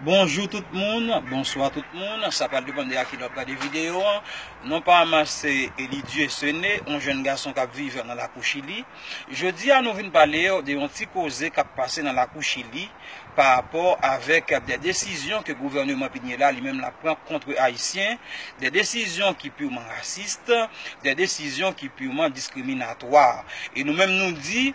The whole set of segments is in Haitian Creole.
Bonjou tout moun, bonswa tout moun, sa pral depan de a kilè wap gade videyo an, non pa ma se Eli Dieusene, yon jèn gason kap viv nan lakou chili, jodi a nou vin palew de yon ti koze kap pase nan lakou chili pa rapò avèk de desizyon ke gouvèneman Piñera la li menm lap pran kontre ayisyen, de desizyon ki piwman rasist, de desizyon ki piwman diskriminatwa e nou menm nou di.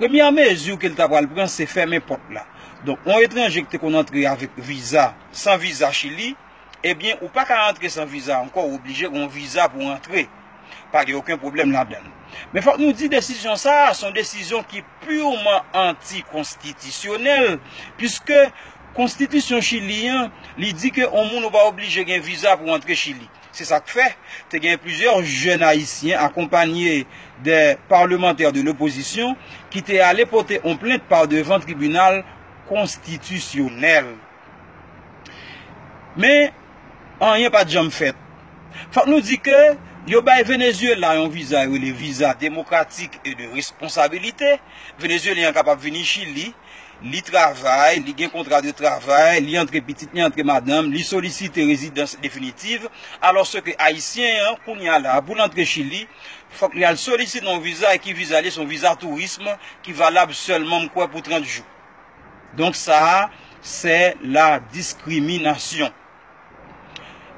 Premyè mezi ke li ta pral pran se fèmen pòt la. Donk yon etranje ki te konn antre avèk viza, san viza Chili, ebyen ou paka antre san viza ankò, ou oblije gen yon viza pou antre. Pa gen oken pwoblèm ladan l. Men fòk nou di desizyon sa a, se yon desizyon ki purman anti-konstitisyonèl, puiske konstitisyon Chili an, li di ke yon moun ou pa oblije gen viza pou antre Chili. Se sa k fè, te gen plizyè jèn ayisyen akonpanye de palmantè de lopozisyon ki te ale pote on plent pa devan tribinal konstitisyonèl. Men, anyen pa t janm fèt. Fòk nou di ke yo bay Venezyela yon viza yo rele viza demokratik e de responsabilite. Venezyelyen an kapab vini Chili. Li travay, li gen kontra de travay, li antre pitit, li antre madanm, li solisite rezidans definitiv, alòske Ayisyen an, kounye a la a, pou l antre Chili, fòk li al solisite yon viza, e ki viza li ye? Se yon viza tourism ki valab sèlman, m kwè, pou 30 jou. Donk sa a, se la diskriminasyon.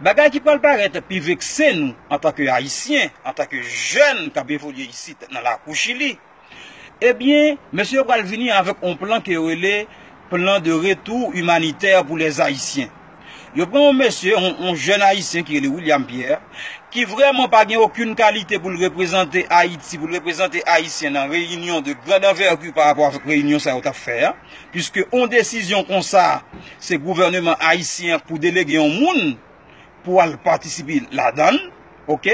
Bagay ki pral parèt pi vekse nou antanke Ayisyen, antanke jèn k ap evolye isit nan lakou Chili, Ebyen, mesye yo pral vini avèk on plan ke yo rele plan de retou imanitè pou lè Ayisyen. Yo pran on mesye, on jèn Ayisyen ki rele William Pierre, ki vrèman pa gen okin kalite pou l reprezante Ayiti, pou l reprezante Ayisyen nan reyinyon de grand anvèti pa rapò avèk reyinyon sa yo t ap fè a, piske on desizyon konsa, se gouvèneman Ayisyen pou delege on moun pou al patisipe ladan l. Ok.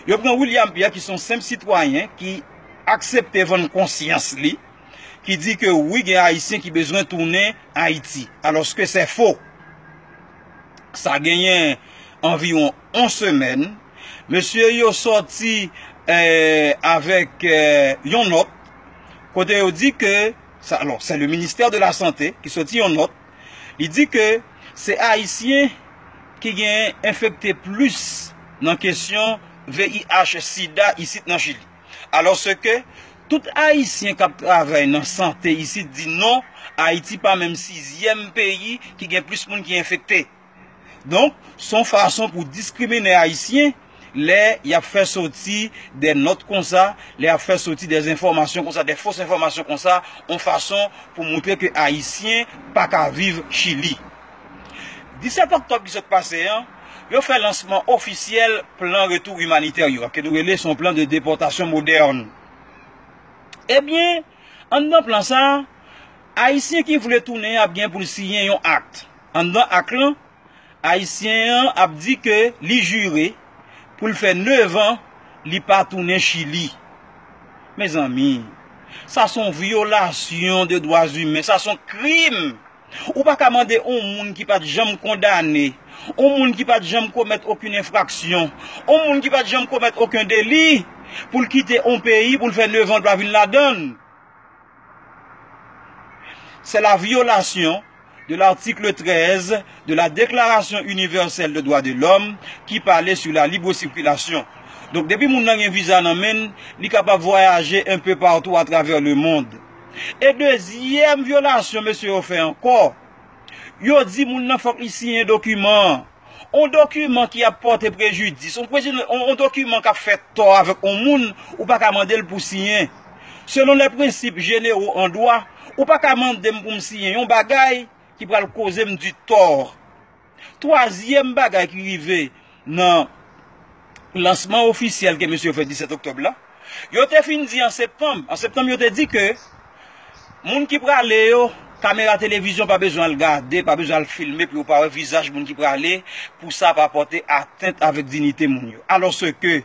Yo pran William Pierre ki son senp sitwayen ki aksepte vann konsyans li, ki di ke wi gen Ayisyen ki bezwen tounen Ayiti. Alòske sè fo. Sa genyen anviwon on semèn, mesye yo sòti avèk yon nòt kote yo di ke, alò sè le ministè de la sante ki sòti yon nòt, Li di ke se Ayisyen ki gen enfekte plis nan kesyon VIH sida isit nan Chili. Alòske tout Ayisyen k ap travay nan sante isit di non, Ayiti pa menm sizyèm peyi ki gen plis moun ki enfekte. Donk, s on fason pou diskriminen Ayisyen lè y ap fè soti dè nòt konsa, lè y ap fè soti dè enfòmasyon konsa, dè fos enfòmasyon konsa, on fason pou montre ke Ayisyen pa ka viv Chili. 17 oktòb ki sot pase an, yo fè lansman ofisyèl plan retou imanitè yo a, ke nou rele s on plan de depòtasyon modèn. Ebyen, anndan plan sa a, Ayisyen ki vle tounen an ap gen pou l siyen yon akt. Anndan ak lan, Ayisyen an ap di ke li jire pou l fè nevan li pa tounen Chili. Mezanmi, sa s on vyolasyon de dwa imen, sa s on krim! Ou pa ka mande on moun ki pa t janm kondane, on moun ki pa t janm komèt okenn enfraksyon, on moun ki pa t janm komèt okenn deli, pou l kite on peyi pou l fè nevan l pa vin ladan l. C'est la violation de l'article 13 de la Déclaration Universelle des Droits de l'Homme qui parlait sur la libre circulation. Donk depi moun nan gen viza nan men l, li kapab vwayaje un peu partout à travers le monde. E dezyèm vyolasyon mesye yo fè ankò, Yo di moun nan fòk li siyen dokiman an. On dokiman ki ap pòte prejidis, on dokiman k ap fè tò avèk on moun, ou pa ka mande l pou siyen. Selon lè prensip jenero an dwa, ou pa ka mande m pou m siyen yon bagay ki pral koze m di tò. Twazyèm bagay ki rive Nan lansman ofisyèl ke mesye yo fè 17 oktòb la, yo te fin di an septanm, an septanm yo te di ke moun ki prale yo, kamera televizyon pa bezwen al gade, pa bezwen al filme pou yo pa wè vizaj moun ki prale, pou sa pa pòte atent avèk dinite moun yo. Alòske,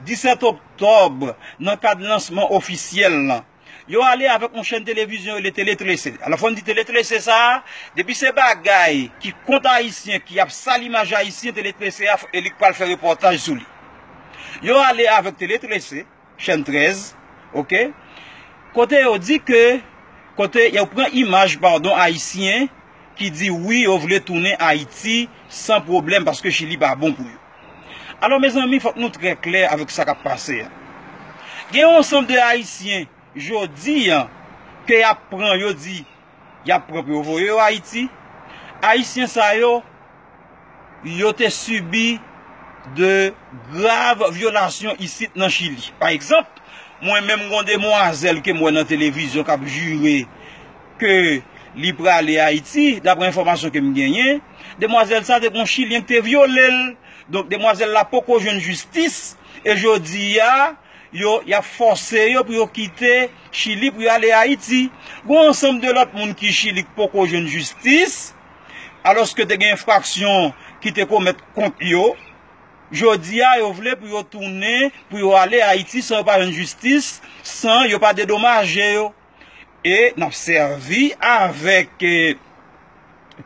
17 oktòb, nan kad lansman ofisyèl lan, Yo ale avèk yon chèn televizyon rele Télé 13. Alò fò n di Télé 13 sa a, depi se bagay ki kont Ayisyen, ki ap sal imaj Ayisyen, Télé 13 a e li k pral fè repòtaj sou li. Yo ale avèk Télé 13, chèn 13, ok, kote yo di ke, kote yo pran imaj padon Ayisyen ki di wi yo vle tounen Ayiti san pwoblèm paske Chili pa bon pou yo. Alò mezanmi fòk nou trè klè avèk sa kap pase a. Gen yon ansanm de ayisyen jodi a ke yap pran yo di yap pran pou yo voye yo ayiti. Ayisyen sa yo, yo te sibi de grav vyolasyon isit nan chili. Pa egzanp, mwen menm gon demwazèl kem wè nan televizyon kap jire. Ke li prale Ayiti, dapre enfòmasyon ke m genyen, demwazèl sa te gen yon chilyen ki te vyole l. Donk demwazèl la poko jwenn jistis, e jodi a, yo, y ap fòse yo pou yo kite Chili pou yo ale Ayiti. Gen yon ansanm de lòt moun ki Chili ki poko jwenn jistis, alòske te gen enfraksyon ki te komèt kont yo. Jodi a, yo vle pou yo tounen, pou yo ale Ayiti san yo pa jwenn jistis, san yo pa dedomaje yo. e n ap sèvi avèk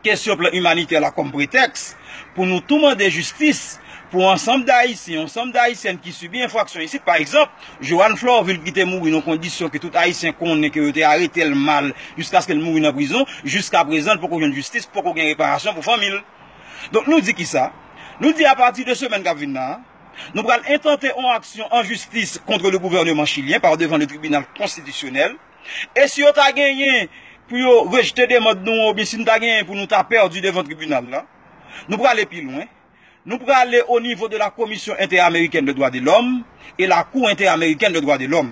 kesyon plan imanitè la kòm pretèks pou nou tou mande jistis pou ansanm dayisyen, ansanm dayisyèn ki sibi enfraksyon isit. Pa egzanp, Johanne Florvil ki te mouri nan kondisyon ke tout ayisyen konnen ke yo te arete l mal jiskaske l mouri nan prizon, jiska prezan l poko jwenn jistis, poko gen reparasyon pou fanmi l. Donk nou di kisa? Nou di apati de semèn k ap vin la, Nou pral entante on aksyon an jistis kontre le gouvèneman chilyen par devan le tribinal konstitisyonèl. E si yo ta genyen pou yo rejte demand nou an oubyen si nou ta genyen pou nou ta pèdi devan tribinal la, nou prale pi lwen. Nou prale o nivo de la Komisyon Entè-Amerikèn de Dwa de Lòm e la Kou Entè-Amerikèn de Dwa de Lòm.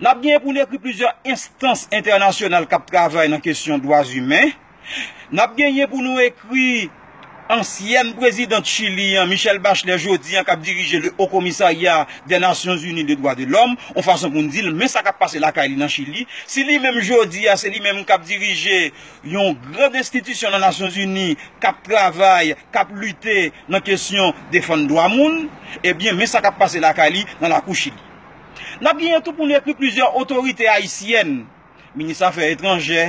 N ap genyen pou n ekri plizyè enstans entènasyonal k ap travay nan kesyon dwazimen. Nap genyen pou nou ekri ansyèn prezidan Chili an Michelle Bachelet jodi an kap dirije le Haut Commissariat des Nations Unies de Droits de l'Homme on fason pou n di l men sa kap pase lakay li nan Chili si li menm jodi a se li menm kap dirije yon gran enstitisyon nan Nasyon Zini kap travay kap lite nan kesyon defann dwa moun ebyen men sa kap pase lakay li nan lakou Chili. Nap genyen tou pou n ekri plizyè otorite ayisyèn. Minis afè etranjè,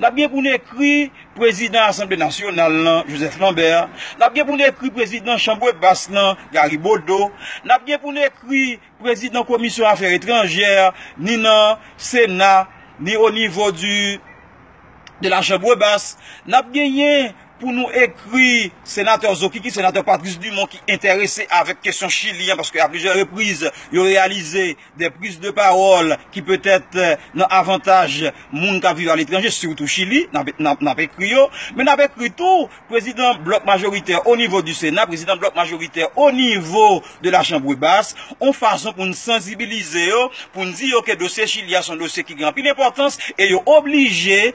n ap gen pou n ekri prezidan asanble nasyonal lan, Joseph Lambert, n ap gen pou n ekri prezidan chanbre bas lan, Gary Bodeau, n ap gen pou n ekri prezidan komisyon afè etranjè ni nan sena ni onivo di de la chanbre bas, n ap genyen pou nou ekri senatè Zokiki, senatè Patrice Dumont ki enterese avèk kesyon chili an paske a plizyè repriz yo reyalize. Des prises de parole ki petèt nan avantaj moun k ap viv aletranje, sitou Chili, n ap ekri yo. Men n ap ekri tou prezidan blòk majoritè onivo di Sena, prezidan blòk majoritè onivo de la Chambre basse, yon fason pou n sanzibilize yo, pou n di yo ke dosye Chili a se yon dosye ki gen anpil enpòtans e yo oblije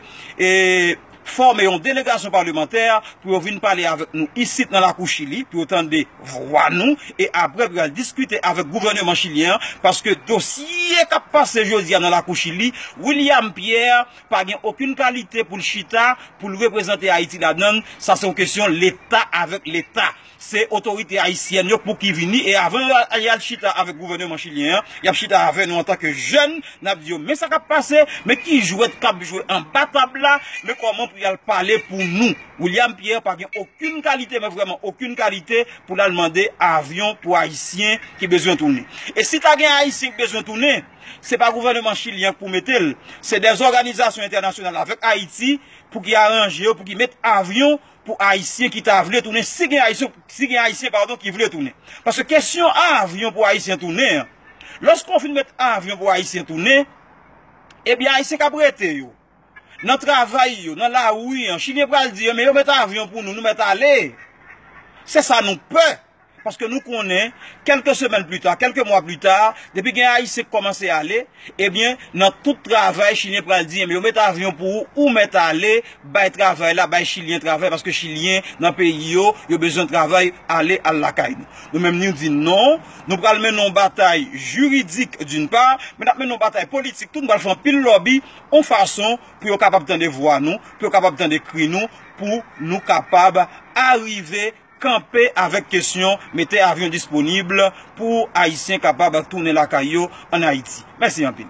fòme yon delegasyon palemantè pou yo vin pale avèk nou isit nan lakou Chili pou yo tande vwa nou e aprè pou y al diskite avèk gouvèneman chilyen an paske dosye k ap pase jodi a nan lakou Chili William Pierre pa gen okenn kalite pou l chita pou l reprezante Ayiti ladan l sa se yon kesyon leta avèk leta. Se otorite ayisyèn yo pou ki vini e avan y al chita avèk gouvèneman chilyen an, y ap chita avè nou antanke jèn, n ap di yo men sa k ap pase, men ki jwèt k ap jwe anba tab la, men kòman pou y al pale pou nou. William Pierre pa gen okenn kalite men vrèman okenn kalite pou l al mande avyon pou ayisyen ki bezwen tounen. E si ta gen ayisyen ki bezwen tounen, se pa gouvèneman chilyen an k pou mete l, se dè zòganizasyon entènasyonal avèk Ayiti pou ki aranje yo pou ki met avyon pou ayisyen ki ta vle tounen si gen ayisyen si gen ayisyen padon ki vle tounen paske kesyon avyon pou ayisyen tounen an loske ou fin met avyon pou ayisyen tounen ebyen ayisyen kap rete yo nan travay yo nan lari an chilyen pral di yo men yo met avyon pou nou nou met ale se sa nou pè Paske nou konnen, kèlke semèn pli ta, kèlke mwa pli ta, depi gen Ayisyen k kòmanse ale, ebyen, nan tout travay, Chilyen pral di, enben yo met avyon pou ou, ou mèt ale, bay travay la, bay Chilyen travay, paske Chilyen, nan peyi yo, yo bezwen travay, ale, al lakay nou. Nou menm niu di non, nou pral mennen yon batay jiridik d'une part, men n ap mennen yon batay politik tou, nou pral fè anpil lòbi, yon fason pou yo kapab tande vwa nou, pou yo kapab tande kri nou, pou nou kapab arive. Kanpe avèk kesyon mete avyon disponib pou Ayisyen kapab tounen lakay yo an Ayiti. Mèsi anpil.